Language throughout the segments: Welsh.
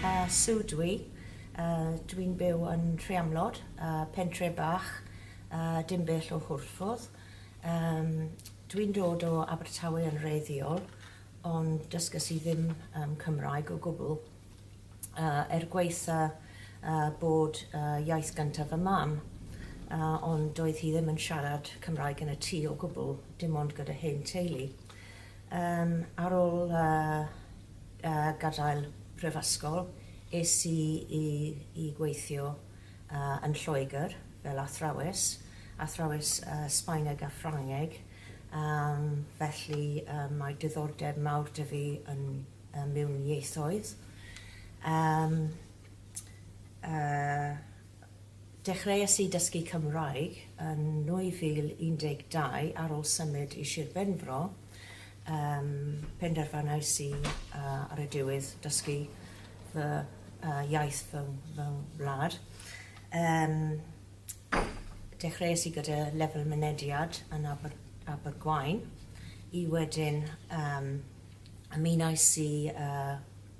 Yy su dwi yy dwi'n byw yn Rhiamlod yy pentre bach yy dim bell o Hwrffordd yym dwi'n dod o Abertawe yn wreiddiol ond dysges i ddim yym Cymraeg o gwbl yy er gwaetha yy bod yy iaith gynta fy mam yy ond doedd hi ddim yn siarad Cymraeg yn y tŷ o gwbl dim ond gyda hen teulu yym ar ol yy Ar gadael prifysgol, es i i gweithio yn Lloegr fel athrawes, athrawes Sbaeneg a Ffrangeg, felly mae diddordeb mawr 'da fi yn mewn ieithoedd. Dechreuais i dysgu Cymraeg yn 2012 ar ôl symud i Sir Benfro. Yym, penderfynais i yy ar y diwedd dysgu fy yy iaith fy ng- fy ngwlad. Yym, dechreuais i gyda lefel mynediad yn Aber- Abergwaun i wedyn yym ymunais i yy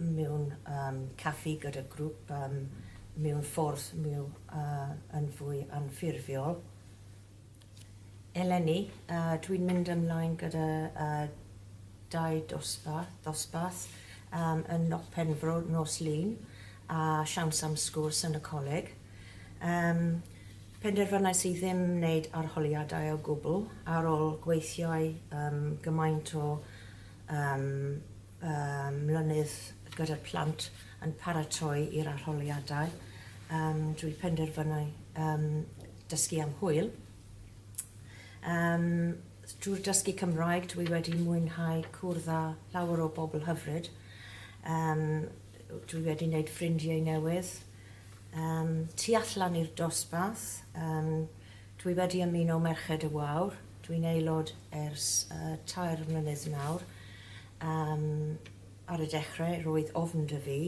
mewn um, caffi gyda grŵp um, mewn ffordd mew, uh, yn fwy anffurfiol. Eleni, uh, dwi'n mynd ymlaen gyda uh, dau dosbarth, dosbarth um, yn Noc Penfro nos lun a siawns am sgwrs yn y coleg. Um, penderfynais i ddim wneud arholiadau o gwbl ar ôl gweithiau um, gymaint o um, mlynedd gyda'r plant yn paratoi i'r arholiadau. Um, dwi penderfynau um, dysgu am hwyl. Um, drwy'r dysgu Cymraeg, dwi wedi mwynhau cwrdd â llawer o bobl hyfryd. Um, dwi wedi wneud ffrindiau newydd. Um, tu allan i'r dosbarth, um, Dwi wedi ymuno Merched y Wawr, dwi'n aelod ers tair mlynedd nawr. Yym ar y dechre roedd ofn 'da fi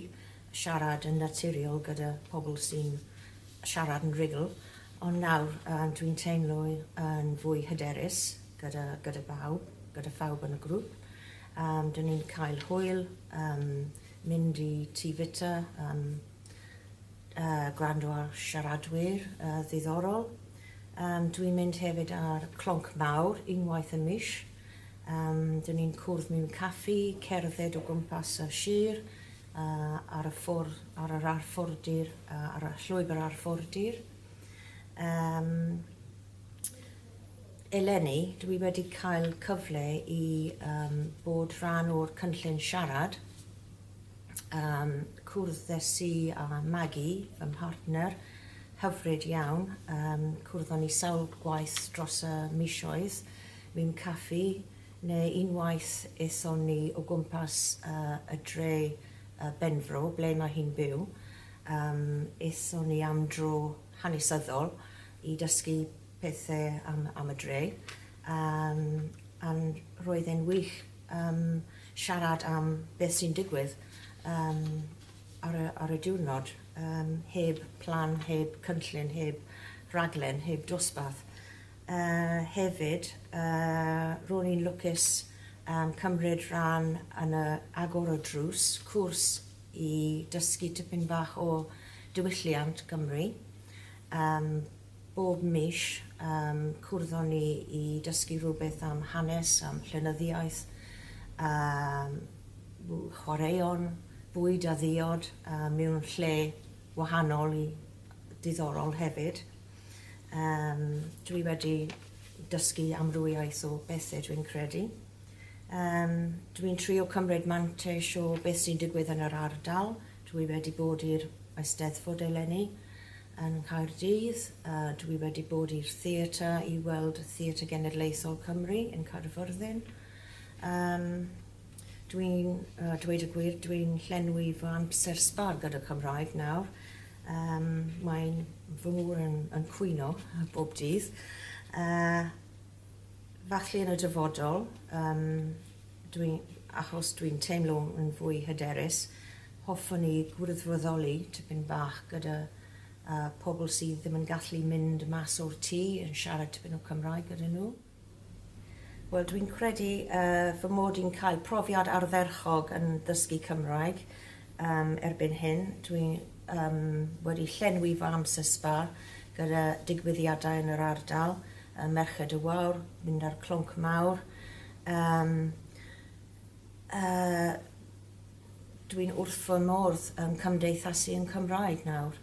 siarad yn naturiol gyda pobl sy'n siarad yn rugl, ond nawr yym dwi'n teimlo yn fwy hyderus gyda gyda bawb, gyda phawb yn y grŵp. Yym 'dyn ni'n cael hwyl yym mynd i tŷ fita yym Yy gwrando ar siaradwyr yy ddiddorol. Yym dwi'n mynd hefyd ar clonc mawr unwaith y mis. Yym dyn ni'n cwrdd mewn caffi, cerdded o gwmpas y sir, yy ar y ffwr- ar yr arfordir yy ar y llwybr arfordir. Yym eleni dwi wedi cael cyfle i yym bod rhan o'r cynllun siarad Yym cwrddes i â Magi, fy mhartner hyfryd iawn, yym cwrddon ni sawl gwaith dros y misoedd mewn caffi neu unwaith aethon ni o gwmpas yy y dre yy Benfro ble mae hi'n byw yym aethon ni am dro hanesyddol i dysgu pethe am am y dre yym a'n roedd e'n wych yym siarad am beth sy'n digwydd yym ar y ar y diwrnod yym heb plan, heb cynllun, heb raglen, heb dosbarth. Yy hefyd yy ro'n i'n lwcus yym cymryd rhan yn y Agor y Drws, cwrs i dysgu tipyn bach o diwylliant Gymru yym Bob mis, yym, cwrddon ni i dysgu rhywbeth am hanes, am llenyddiaeth, am chwaraeon, bwyd a ddiod, a mewn lle wahanol i diddorol hefyd. Yym, dwi wedi dysgu amrywiaeth o bethe dwi'n credu. Yym, dwi'n trio cymryd mantais o beth sy'n digwydd yn yr ardal, dwi wedi bod i'r Eisteddfod eleni, Yn Nghaerdydd, a dw i wedi bod i'r theatr i weld Theatr Genedlaethol Cymru yn Caerfyrddin. Yym, dw i'n yy dweud y gwir, dw i'n llenwi fy amser sbâr gyda Cymraeg nawr. Yym, mae'n fy ngŵr yn yn cwyno bob dydd. Yy, falle yn y dyfodol, yym, Dwi, achos dwi'n teimlo yn fwy hyderus, hoffwn i gwrthfyddoli tipyn bach gyda yy pobl sydd ddim yn gallu mynd mas o'r tŷ yn siarad tipyn o Cymraeg gyda nhw. Wel dwi'n credu yy fy mod i'n cael profiad ardderchog yn ddysgu Cymraeg yym erbyn hyn, dwi yym wedi llenwi fy amser sbâr gyda digwyddiadau yn yr ardal, yy Merched y Wawr, mynd ar Clonc Mawr, Yym yy dwi'n wrth fy modd yn cymdeithasu yn Cymraeg nawr.